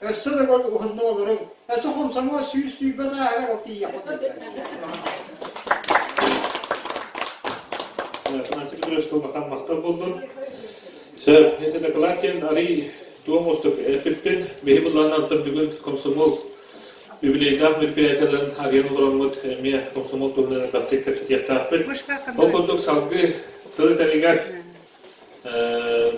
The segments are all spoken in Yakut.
Өссө да бэл уһуннук олоруҥ. Өссө хомсоҥуо сүүс сүүрбэ сааһыгар ол тиийиэххит Анsi Petros Tulmakan махтал булдун. Сэ, это докладтен арый туом устук эппиппин биһи булланнан түрдүгүн комсомол юбилейдаах мероприятияларын арыйан олороммут эмиэ комсомол туһунан баттык кэпсэтиэхтаахпыт. Ол курдук салгы тылы тэлигэр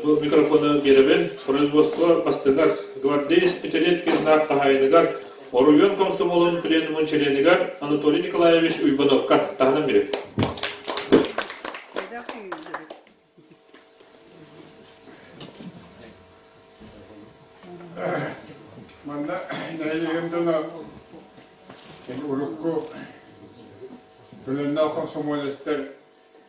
Бу микрофону биэрэбин. Производство бастыгар гвардеец пятилеткиннаах хаһаайыныгар, оройуон комсомолун пленумун чилиэнигэр Анатолий Николаевич Уйбановка таһынан биэрэбин. Манна нэһилигим дьоно урукку төлөннөөх комсомолецтар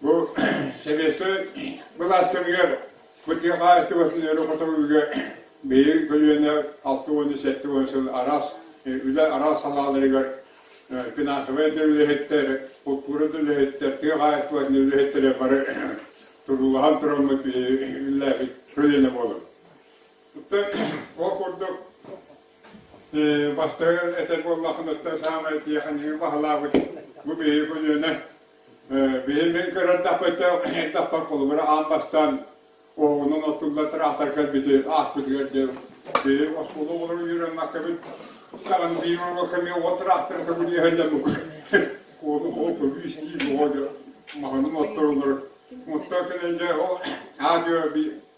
Бу сэбиэскэй былаас кэмигэр бытыы хаһаайыстыбатын өрө-хото үгө биир көлүөнэ алта уонна сэттэ уон сыл араас үлэ араас салааларыгар финансовай да үлэһиттэр, култуура да үлэһиттэр, тыа хаһаайыстыбатын үлэһиттэрэ бары туруулаһан тураммыт үллээбит көлүөнэ буолар. Оттон ол курдук бастагы этэр буоллаххына, саамай тиэхэньиги баһылаабыт бу биһиги көлүөнэ Били мин көрөрдөхпүтэ Этаппар холобура аан бастаан оҕонон оттулла тыраахтар кэлбити ааспытыгар диэн били оскуола оҕолору үөрэннэккэбит. Саҕан диимаҥа кэми оҕо тыраахтара көбүнүө сылдьабык. Куолу оҕо көбүүс диир оҕо дьа маҕанын отторолор. Оттоо кэнэн дьэ ол аадыа би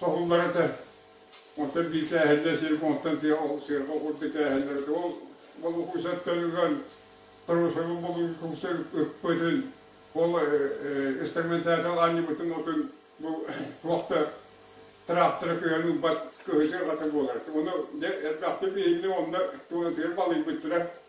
соһуллар этэ. Онтон бииртээһиннэр сиргэ онтон сыарҕа курдук тээһиннэр этэ. Ол балукуйсат төлүгэн Тарусовы болуйгуйса ыппытын, ол инструментатор аанньыбытын отун бу туох да тыраахтара кыһан ылбат кыһытын ата буолар. Ону элбэхтик биһинни онно туонатыгар балыйбыттара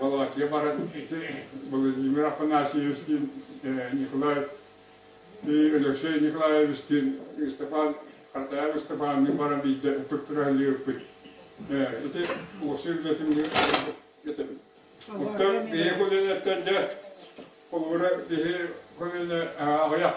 Балаатыйа баран ити Владимир Афанасьевичтыын Николай Алексей Николаевичтыын Ыстапаан Хатаев Ыстапаанныын баран биирдэ ыппыттара ыыппыт. Ити уопсай үлэтин этэбин. Оттон бэйэ көлөнөттөн да холобура киһи көлөнө аҕыйах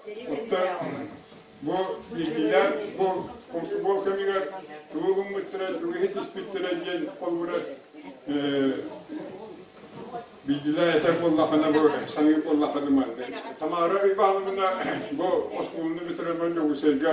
Оттон бу биллилэр бу футбол кэмигэр тугу гыммыттара, тугу иһитиспиттэрэ диэн холобура биллилэр этэр буоллаххына бу саныыр буоллаххына маннык. Тамара Ивановна бу оскуоланы бүтэрэн Дьокуускайга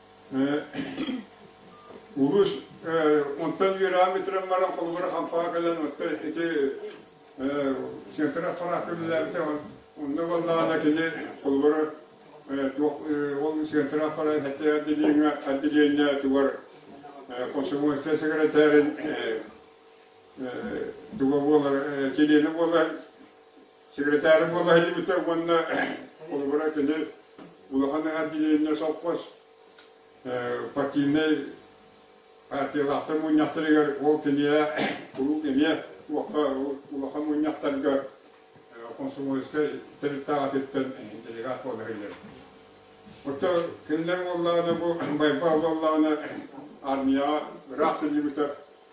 Уһуш онтон үөрээммитирэн баран холобура хампаа кэлэн оттон ити сектор аппараты үлэлээбитэ онно боллаана кини холобура ол сектор аппарат отделения отделение тугар комсомольскай секретарин туга буолар чилиэнэ буолар Секретарь буола иһиллибитэ уонна холобура кини улахан отделение совхоз партийнай партиялаахтар мунньахтарыгар ол кинигэ куруук эмиэ улахан мунньахтарга комсомольскай тэрилтэҕэ атыттан делегат буола иһиллэр. Оттон кинилэр буоллаҕына бу байбал буоллаҕына армияҕа ыраах сылдьыбыта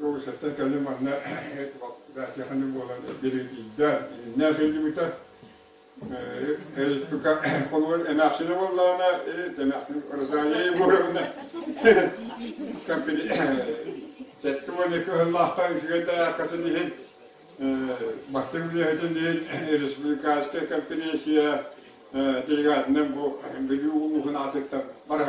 Уолусаттан кэлли манна графияны буолан диригитийдэ, иннэ сөйлүбүтэ. Эйпка холугар эмээхсине буоллаҕына, эмээхсин Розалия Егоровна сэттэ уон екі сыллаахтан үчүгэй таяркатын иһин бастыҥ үлэһитин иһин республиканская конференция делегатынан бу Бүлүү улууһун аатыттан барар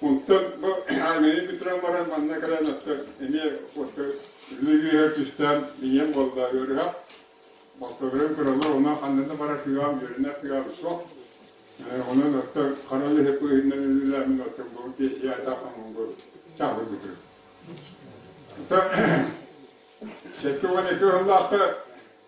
Оттон бу Ганья Петровна баран манна кэлэн оттон эмиэ отто үрүҥ үөһэ түстээн ийэм буолла ыарыһа. Балтыларын кыралар онон ханнана бара кыаҕым, үөрэнэ кыаҕым суох. Онон оттон хара леһи быыһынан үлэлээмин оттон бу тиэсиэ атаахаммын чаһырбытым. Сөтке уон екі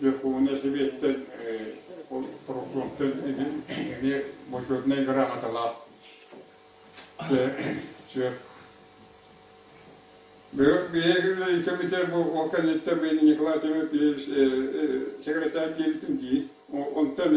Верховнай Сэбиэттэн ол Прокуратураттан эмиэ бойкотунай грамоталаах сөп. Биһиги комитет бу ол кэнниттэн мен Николай Тимофеевич секретарь диэбитим дии. Онтон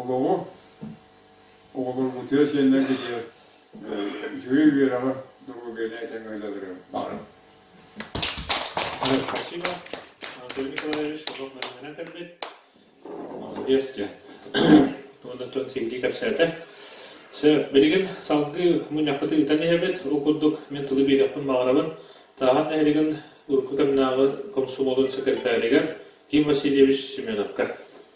Олоҕу оҕолорум утуйа сиэннэргэ диэн үчүгэй үөрэҕи доруобуйаны тэҥэһилэлэрин баҕарабын. Спасибо. Анатолий Николаевич, кусок бэлэмнэнэн кэлбит. Молодец диэн. Туоннаттан сиһилии кэпсээтэ. Сэ, билигин салгыы мунньахпыты ыытан иһэбит. Ол курдук мин тылы биэриэхпин баҕарабын. Таахан нэһилигин урукку кэмнээҕи комсомолун секретаригар Ким Васильевич Семеновка.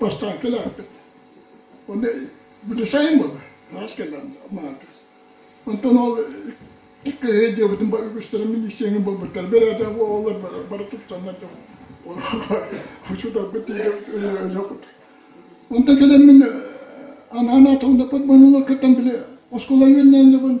бастаан кэлээхпит. Ону били сайын буолар, араас кэллэҕим манаатас. Онтон ол кыһы диэбитин бар үгүстэрэ министиэҥин булбуттар бэрээдэк оҕолор бары тупсаннар учутарбыт диэбит Онтон кэлэн мин анаан аатылында под бонула кыттан били оскуола үөлнээнлебин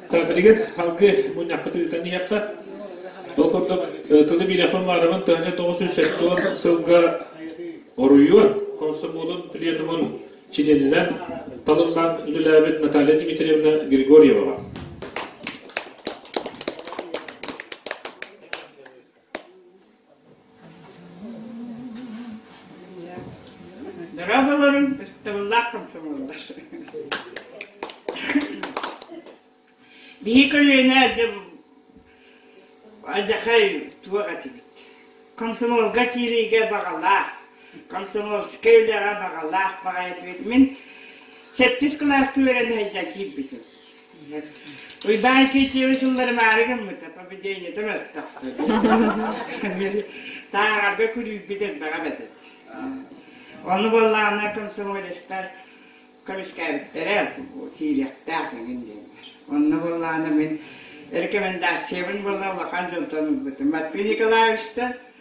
Билигин салгы мунньахпыт ыытан иһиэххэ. Ол курдук тылы биирэхпин баарабын төһөнө тоҕус жүз сэттион сылга оройуон комсомолун пленумун чилиэнинэн талыллан үлэлээбит Наталья Дмитриевна Григорьеваҕа. Дорабаларым табыллаах комсомолдар. Биһи көлүөнэ адьахай туох этибит. Комсомолга киириигэ баҕалаах, комсомольскай үлэҕэ баҕалаах баҕайы мин сэттис кылааска үөрэн сылдьан киирбитим. Уйбаан Чичиева сыллары баары гыммыта, победенията мөлтөхтө. Тааҕарга күрүүрбүт элбэҕэ бэтэ. Ону буоллаҕына комсомолецтар көмүскээбиттэрэ, киириэхтээх эҥин диэннэр. Онно буоллаҕына мин рекомендациябын буолла улахан дьонтон ылбытым. Матвей Николаевичтан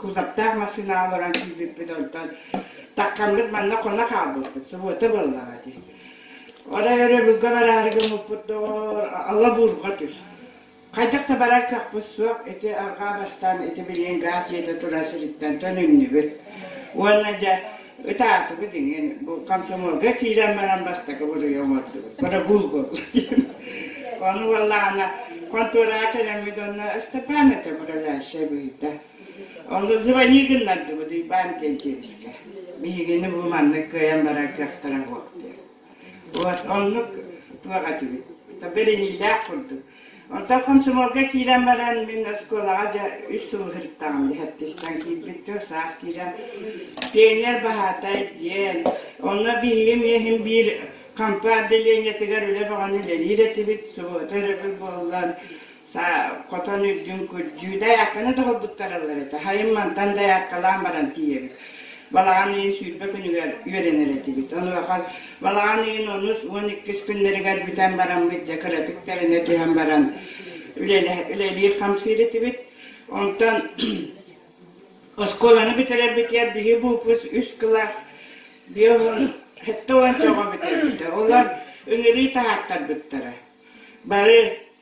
кузовтаах массыына олорон киирбиппит онтон таккаммыт манна хоно хаалбыппыт субуота буоллаҕа дии орой өрөбүлгэ бараары гыммыппыт доҕор алла буурҕа түс хайдах да барар кахпыт суох ити арҕаа бастаан ити билиэн гаас ийэтэ турар сириттэн төнүннүбүт уонна дьэ Ытаатыбыт иҥин бу комсомолга киирэн баран бастакы буруйа оҥордубут. Бырабыыл буолла диэн. Ону уоллаана контораҕа кэлэммит онно Ыстапаан этэ управляющая быһыыта. Ону звони гыннардыбыт Уйбаан диэн дьиэбискэ. Биһигини бу маннык кыайан барар кыахтара буолт диэн. Оннук туох этибит. Бэриниилээх курдук. Онтон комсомолга киирэн баран, мин оскуолаҕа дьэ үс сыл сырыттаҕым лэһэттистэн киирбиттэр, саас киирэн пионер баһаатай диэн, онно биһиги миэхин биир хампа отделениетыгар үлэ бөҕөнү үлэлиир этибит, субуота өрөбүл буоллан, Саа, хотон үрдүн күрдьүү, дайаактаны доһорбуттараллар этэ. Хайым мантан дайаакталаан баран тиийэбит. Балаҕан ыйын сүүрбэ күнүгэр үөрэнэр этибит. Онуоха балаҕан ыйын онус уон иккис күннэригэр бүтэн бараммыт дьэ кыратык тэринэ түһэн баран үлэлиир-хамсыыр этибит. Онтон оскуоланы бүтэрэрбитигэр биһи буупус үс кылаас жетті уонча оҕо бүтэрбитэ. Олор үҥүрүй таһааттарбыттара. Бары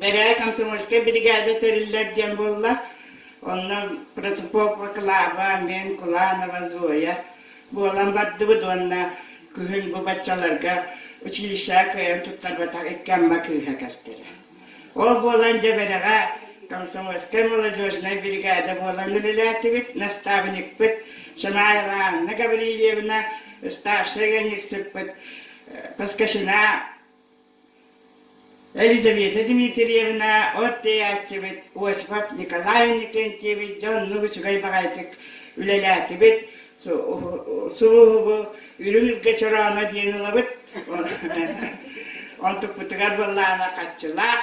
Бэрээ комсомольскай биригээдэ тэриллэр диэн буолла. Онно протопопа Клава, мен, Куланова, Зоя буолан бардыбыт уонна күһүн бу баччаларга училищеҕа кыайан туттарбатах икки амма кыыһа кэлтэрэ. Ол буолан дьэбэрэҕэ комсомольскай молодежнай биригээдэ буолан үлэлээтибит. Настаабынньыкпыт Шанай Ивановна Гаврильевна, старшай ыанньыксыппыт Паскашина Елизавета Дмитриевна от-тэйээччибит Осипов Николай Иннокентьевич дьоннук үчүгэй баҕайытык үлэлээтибит, суруһубу Үрүҥ Илгэ Чорооно диэн ылабыт, онтукпутугар буоллаҕына хаччылаах,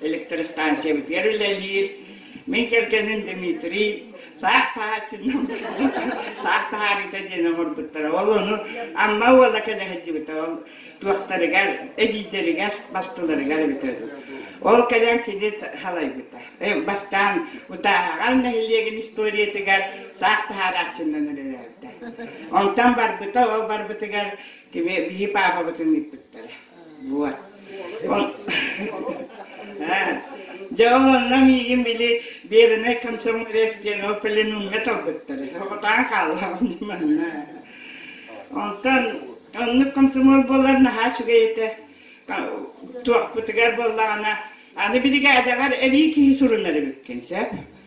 электростанциябытыгар үлэлиир. Мин кэргэним Дмитрий саах таһааччынан саах таһаарыыта диэн оҥорбуттара. Ол ону Амма уола кэлэһэдьибитэ. Ол туохтарыгар, эдьиийдэригэр, бастыларыгар эбитэ үһү. Ол кэлэн кини халайбыта. Бастаан Утааһаҕар нэһилиэгин историятыгар саах таһаарааччынан үлэлээбитэ. Онтон барбыта, ол барбытыгар кими биһи паапабытын ыыппыттара. Вот. Ол Дьэ ол онно миигин били Верный комсомолец диэн ол пленумҥа талбыттар. Оҕотаан хааллаҕым манна. Онтон оннук комсомол буолар наһаа үчүгэй этэ. Туохпутугар буоллаҕына аны биригээдэҕэр эбии киһи сурунар эбиккин сөп.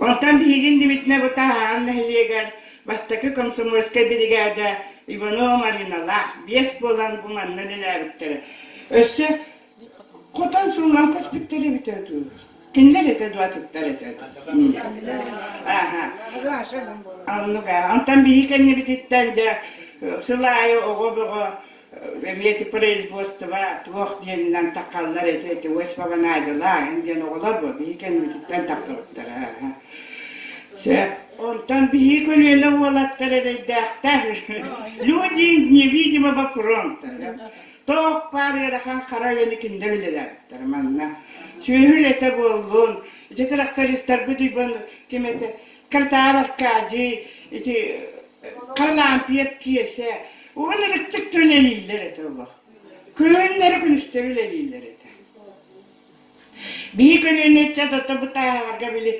Оттон биһигин Дмитрий Бытааһаҕар нэһилиэгэр бастакы комсомольскай биригээдэ Иванова Марыналаах биэс буолан бу манна үлэлээбиттэрэ. Өссө хотон суунан көспүттэр эбитэ дуу? Кинилэр этэ дуу атыттар этэ дуу? Ааха. Оннук аа. Онтон биһи кэннибититтэн дьэ сыл аайы оҕо бөҕө Забеты производство туох диэнинэн таххаллар ити эти восьмовонаайдылааһын диэн оҕолор бу биһи кэннибититтэн тахпыттара Сөп. Онтон биһи көлүөнэ уолаттар эрэйдээхтэр. Люди невидимого фронта. Тоох паар ыарахан хара өйөнү киндэ билирээттэр манна. Сүөһү үлэтэ буоллун, ити трактористарбыт үбүн кимете катаабакка дьиэ ити харлампье тиэсэ уһун ырыттык үлэлииллэр этэ олох күһүннэри күнүстэри үлэлииллэр этэ биһи көлүөнэ ыччата бытааһаларга били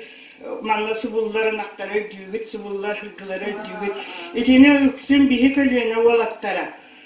манна субуллар ынахтары өйдүүгүт субуллар һыгылары өйдүүгүт итини үксүн биһи көлүөнэ уолаттара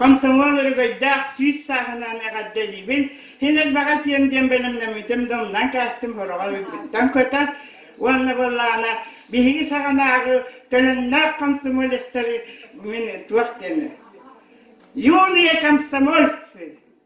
Комсомол өрөгөйдөөх сүүс сааһынаан эҕэрдэлиибин, син элбэҕи этиэм диэн бэлэмнэммитим да умнан кээстим сороҕо өйбүттэн көтөр уонна былаана биһиги саҕанааҕы төлөннөөх комсомолецтары мин туох диэни юные комсомольцы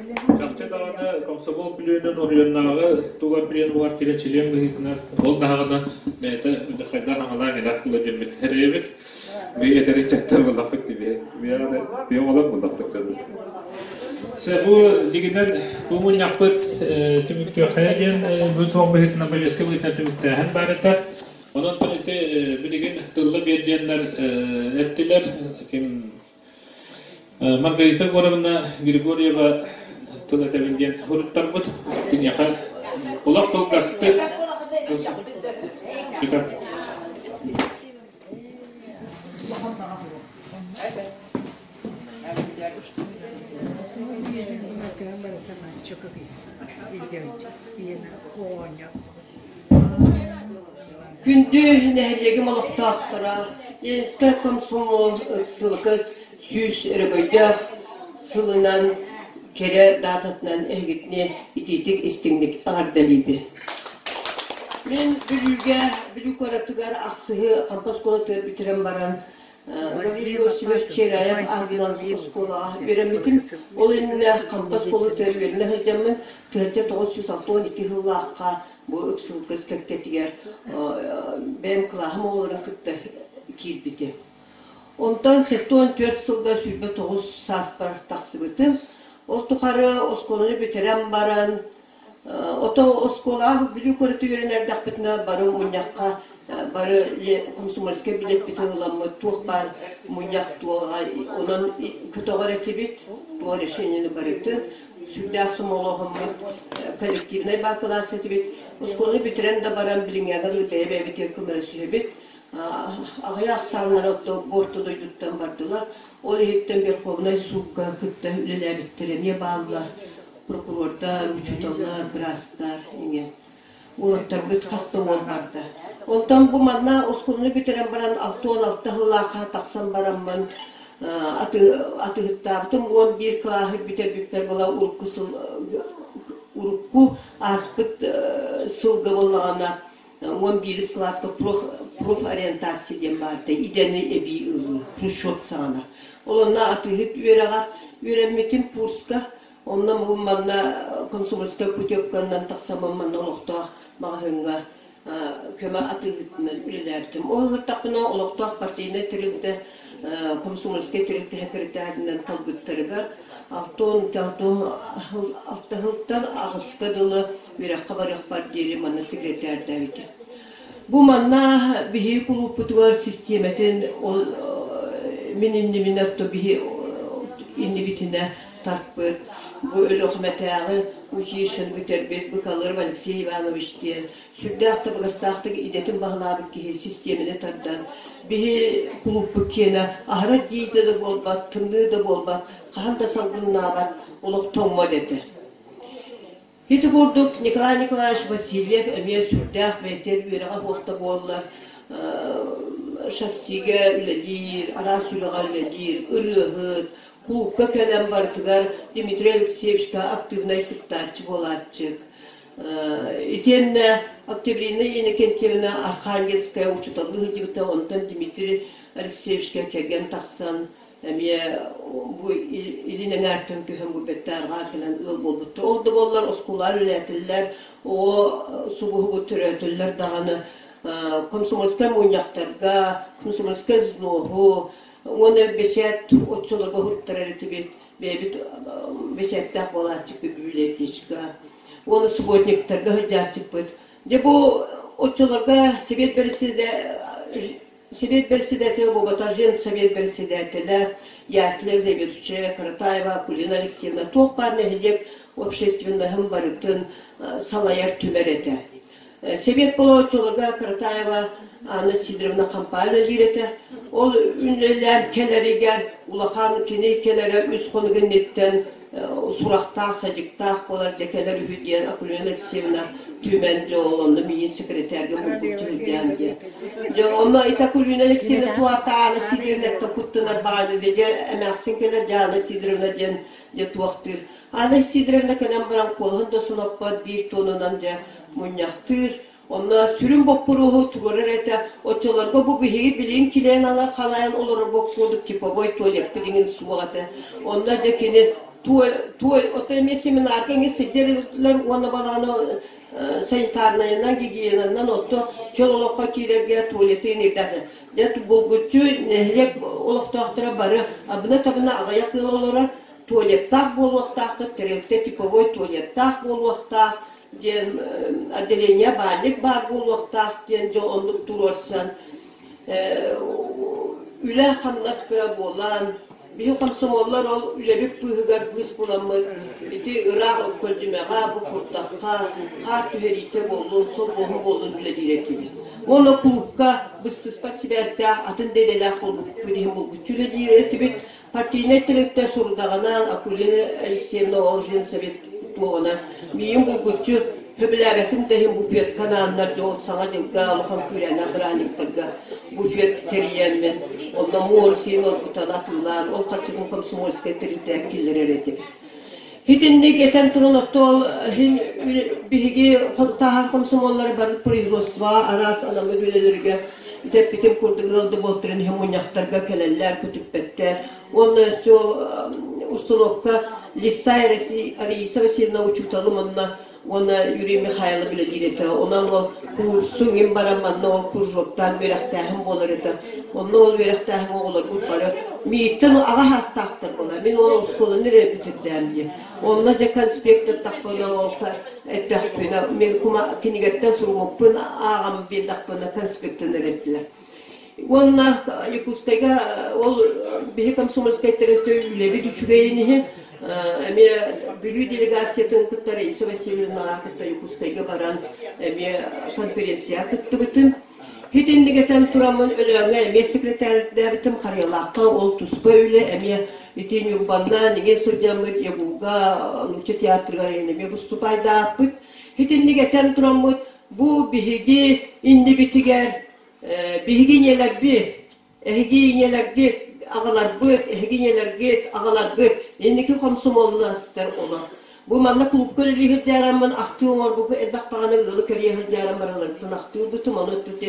Чахчы даҕаны комсомол күлүөнүн оройуоннааҕы тугар билиэн буһар кирэчилиэн быһыытынан ол даҕаны бэйэтэ удьахайдаах аналаах элээх быладьыммыт эрэйэбит мы это рычагтар булахпыт тибе тиэ олар булахпыт Се бу дигинен бу мунньахпыт түмүктүөххэ диэн бу туох быһыытынан бөлүөскэ быһыытынан түмүктээһин баарыта онон ити билигин тылла биэрдиэннэр эттилэр ким Маргарита Егоровна Григорьева тыл этэбин диэн суруттарбыт. Киниэхэ олох кылгастык Чокопи, Илья, Иена, Оня, Күндү нэһилиэгим олохтоохторо, Ленскэй комсомол ыксалыкас сүүс өрөгөйдөөх сылынан кэрэ даататынан эһигитини итиитик истиҥник эҕэрдэлиибин. Мин Бүлүүгэ Бүлүү куоратыгар ахсыһы хампас куолатыгар бүтэрэн баран Василий Васильевич Чиряев аатынан оскуолаҕа үөрэммитим. Ол иннинэ хантан куолутугар үөрэнэ сылдьаммын тыһыынча тоҕус жүз алта уон икки сыллаахха бу ыксылга кэккэтигэр бэйэм кылааһым оҕолорун кытта киирбитим. Онтон сэттэ уон түөрт сылга сүүрбэ тоҕус сааспар тахсыбытым. Ол тухары оскуоланы бүтэрэн баран Ото оскуолаҕа Бүлүү куораты үөрэн эрдэхпитинэ бары мунньахха, бары комсомольскай билиэппити ылламмыт туох баар мунньах туох аҕай онон көтөҕөр этибит, туох решениены барытын. Сүрдээх сомолоһоммут, коллективнай баакылаас этибит. Оскуоланы бүтэрэн да баран билиҥҥээҕэр бэйэ-бэйэбитигэр көмөлөс сүһэбит. Аҕыйах сааллар отто буорта дойдуттан бардылар. Ол иһиттэн Верховнай суукка кытта үлэлээбиттэр эмиэ бааллар. прокурордар, учууталлар, быраастар ийэ уолаттарбыт хас да уол барда. Онтон бу манна оскуоланы бүтэрэн баран алта уон алта сыллаахха тахсан бараммын аты атыһыттаабытым уон биир кылааһы бүтэрбиппэр была урукку сыл урукку ааспыт сылга боллаҕына уон биирис кылааска проф проф ориентация диэн баарда идэни эбии ылыы хрущев саҕана ол онно атыыһыт үөрэҕэр үөрэммитим курска Онно манна консульскай путевканан тахсаммын манна олохтоох маҕаһыыҥҥа көмө атыыһытынан үлэлээбитим. Ол сырдахпына олохтоох партийнай тэрилтэ консульскай тэрилтэ сэкирэтээринэн талбыттарыгар алта уон алтыһылтан аҕыска дылы үөрэххэ барыахпар диэри манна секретээрдээбитим. Бу манна биһиги кулууппутугар систиэмэтин ол мин иннибинэ биһи иннибитинэ тарпыт. Бу Өлүөхүмэтээҕи училищены бүтэрбит Быкалыров Алексей Иванович диэн сүрдээх табыгастаахтык идэтин баһылаабыт киһи систиэмэни тардан биһи кулууппут киэнэ аһара дьиитэ да буолбат, тымныы да буолбат, хаһан да салгыннаабат олох тоҥмо этэ. Ити курдук Николай Николаевич Васильев эмиэ сүрдээх бэйэтин үөрэҕэ суохта буоллар шассиге үлэлиир, араас үлэҕэ үлэлиир, ырыаһыт, клубка кэлэн барытыгар Дмитрий Алексеевичка актыыбынай кыттааччы буолааччык. Итиэннэ Октябрина Иннокентьевна Архангельская учуталлыы сылдьыбыта, онтон Дмитрий Алексеевичка кэргэн тахсан эмиэ бу илин эҥээртэн түһэн бу бэттээрҕээн кэлэн ыал буолбуттар ол да буоллар оскуолаҕа үлэлээтиллэр оо субуһугут төрөөтүллэр даҕаны комсомольскай мунньахтарга комсомольскай взвоһу уонна бэчээт оччолорго уһуттарар этибит бэйэбит бэчээттээх буолааччыппыт библиотечка уонна субботниктарга сылдьааччыппыт дьэ бу оччолорго сэбиэт бэрэссэдээтэлэ Сэбиэт бэрэссэдээтэлэ Богатыржин, Сэбиэт бэрэссэдээтэлэ Ясля Лебедчая, Каратаева Кулина Алексеевна туох баар нэһилиэк общественноһын барытын салайар түмэл этэ. Сэбиэт боломуочуларга Каратаева Анна Сидоровна хампаан үлэлиир этэ. Ол үлэлээн кэлэригэр улахан кини кэлэрэ үс хонук инниттэн сурахтаах, садьыктаах буолар дьэ кэлэр үһү диэн Акулина Алексеевна түмэн дьэ онно миин секретарга булгуччу сылдьаан диэн. Дьэ онно ит Акулина Алексеевна туатаана Сидоровна куттанар бааны дьэ эмээхсин кэлэр Дьаана Сидоровна диэн дьэ туохтыыр. Ана Сидоровна кэлэн баран куолаһын да соноппот биир туонунан дьэ мунньахтыыр Онно сүрүн боппуруоһу туруорар этэ, оччолорго бу биһиги билигин килээн ала халаан олорорбут курдук типовой туалеттар иҥин суох этэ. Онно дьэ кини туаль, туаль, ото эмиэ семинарга иҥин сылдьарылар уонна балаҕаны санитарнайынан, гигиенанан отто чөл олоххо киирэргэ туалеты инирдэтэ. Дьэ булгуччу нэһилиэк олохтоохторо бары абына-табына аҕыйах ыал олорор туалеттаах буолуохтааххыт, тэрилтэ типовой туалеттаах буолуохтаах, диэн отделение баанньык баар буолуохтаах диэн дьол оннук туруорсан үлэ-хамнас кыа буолан биһи комсомоллар ол үлэбит быыһыгар быыс буламмыт ити ыраах көлдьүмэҕэ бу куртахха хаар түһэриитэ буоллун солбоһу буоллун үлэлиир этибит моно клубка быстыспат сибээстээх атын да идэлээх курдук иһин булгуччу үлэлиир этибит Партийнай тэрилтэ сурудаҕынан Акулина Алексеевна Олжинцеви туоҕуна миин булгуччу сөбүлээбэтин да иһин буфетка анааннар дьол саҥа дьылга улахан күүрээнэ бырааһынньыктарга буфет тэрийээннэр онно муор сиин оргутан атыылаан ол харчытын комсомольскай тэрилтэҕэ киллэрэр этибит. Итинник этэн туран оттоол иһин биһиги таһаан комсомоллары бары производство араас анам үлэлэргэ тэппитим курдук ыал да буолтаран иһэ мунньахтарга кэлэллэр, көтүппэттэр. Уонна устулуопка Лисай Арисова Васильевна учууталым онна уонна Юрий Михайлов үлэлиир этэ. Онон ол куурсу мин баран манна ол кружоктаан үөрэхтээһин буолар этэ. Онно ол үөрэхтээһин оҕолорбут бары мииттэн аҕа саастаахтар буолар. Мин ол оскуоланы өрө бүтүрдээн дии. Онно дьэ конспектор тахпынан ол эттэхпинэ, мин кума кинигэттэн суруммуппун ааҕан биэрдэхпинэ конспектын эрэттилэр. Уонна Якутскайга ол биһи комсомольскайтары үлэбит үчүгэйин иһин эмиэ Бүлүү делегациятын кытта Раиса Васильевнаҕа кытта Якутскайга баран эмиэ конференцияҕа кыттыбытым. Хит иннигэтэн тураммын Өлөөҥҥө эмиэ секретардээбитим, Харыйалаахха ол туспа үлэ эмиэ ити Ньурбаннаан иҥин сылдьаммыт ЯГУ-га нуучча театрыгар эмиэ выступайдаахпыт. Хит иннигэтэн тураммыт Бу биһиги иннибитигэр биһиги ийэлэрбит, эһиги ийэлэргит аҕаларбыт, эһиги ийэлэргит аҕаларгыт инники хомсомуолластар олор. Бу манна клубка үлэлиир дьаараммын ахтыы оҥорбуппут элбэх даҕаны ыалы кэрийэ сылдьааран баралларыттан ахтыырбытым, ону өттүтү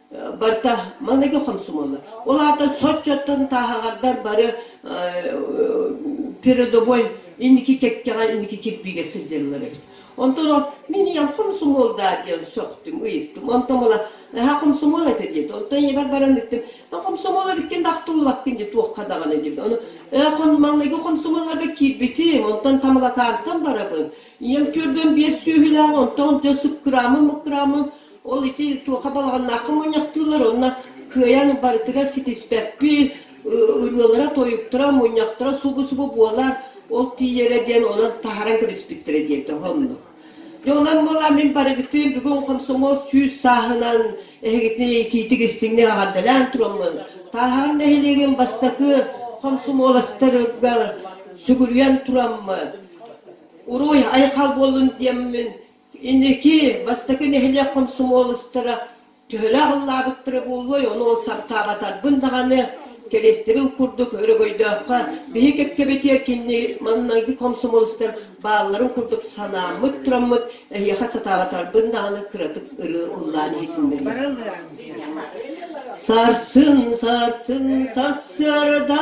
Барта маныгы хомсомоллор. Ол аата соччоттон тааһаҕардар бары передовой инники кэккэҕэ инники кирбиигэ сылдьаллар эбит. Онтон ол мин ийэм хомсомуол даа диэн сөхтүм, ыйыттым. Онтон була наһаа хомсомуол этэ диэт. Онтон ийэбэр баран ыттым, хомсомуол эбиккин тахтыллыбаккын дии туохха даҕаны диэбит. Ону маныгы хомсомуолларга киирбитим, онтон тамылакаантан барабын. Ийэм төрдөн биэс сүөһүлээх, онтон дьэ сыккыраамым, мыккыраамым. Ол ити туоха балаҕаннаахха мунньахтыыллар уонна кыайан барытыгар ситиспэппит, ырыалара, тойуктара, мунньахтара субу-субу буолар, ол тиийэрэ диэн онон таһаран кэбиспиттэрэ диэбитэ оһо оннук. Дьэ онон буолан мин барыгытын бүгүн хомсомуос сүүс сааһынан эһигитин итиитик истиҥник аҕардалаан тураммын Тааһаҕын нэһилиэгин бастакы хомсомуоластарыгар сүгүрүйэн тураммын. Урууй айхал буоллун диэммин Инники бастакы нэһилиэк хомсомуолустара төһөлөөх ыллаабыттара буолуой, ону ол саптаабатарбын даҕаны, кэриэстэбил курдук өрөгөйдөөххө, биһи кэккэбитигэр кинини маҥнайгы хомсомуолустар баалларын курдук санааммыт тураммыт, эһиэхэ сатаабатарбын даҕаны кыратык ырыы ыллаан иһитиннэриэм. Сарсын, сарсын сарсыарда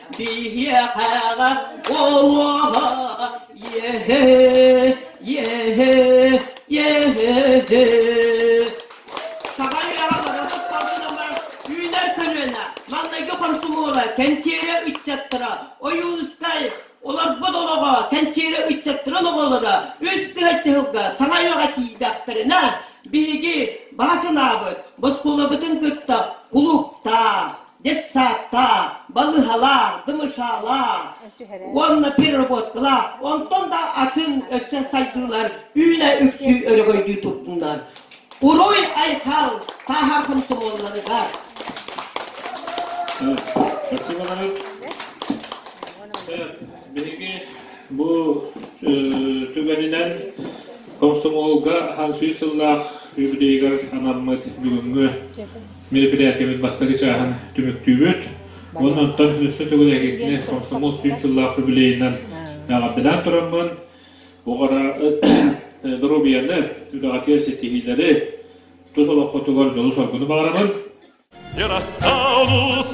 Биһиэхэҕэ буолуо иэһи, иэһи, иэһи. Саҕан ыраҕа бара сыттарсылама үүнэр көлүөнэ маҥнайгы хомсумуола кэнчиэрэ ыччаттара Ойуунускай олорбут олоҕо кэнчиэрэ ыччаттарын оҕолоро үс тыһыынча сылга саҥа үйэҕэ тиийдэхтэринэ биһиги баҕа санаабыт босхуолабытын кытта кулууптаах детсадтаах, балыһалаах, дымышаалаах уонна переработкалаах, онтон да атын өссө сайдыылар үүнэ үксүү өрөгөйдүү турдуннар. Уруй Айхал тааһар комсомолларыгар! Спасибо, Биһиги бу түгэнинэн комсомолга хан сүүс сыллаах юбилейгар анаммыт бүгүҥҥү Мероприятиебыт бастакы чааһын түмүктүүбүт. Уонна оттон өссө төгүл эһигитини комсомол сүүс сыллаах юбилейынан ааҕарданаан тураммын, оҕара доруобуйаны, үлэҕитигэр ситиһиилэри, тус олоххутугар дьолу-соргуну баҕарабын. Ерастаулус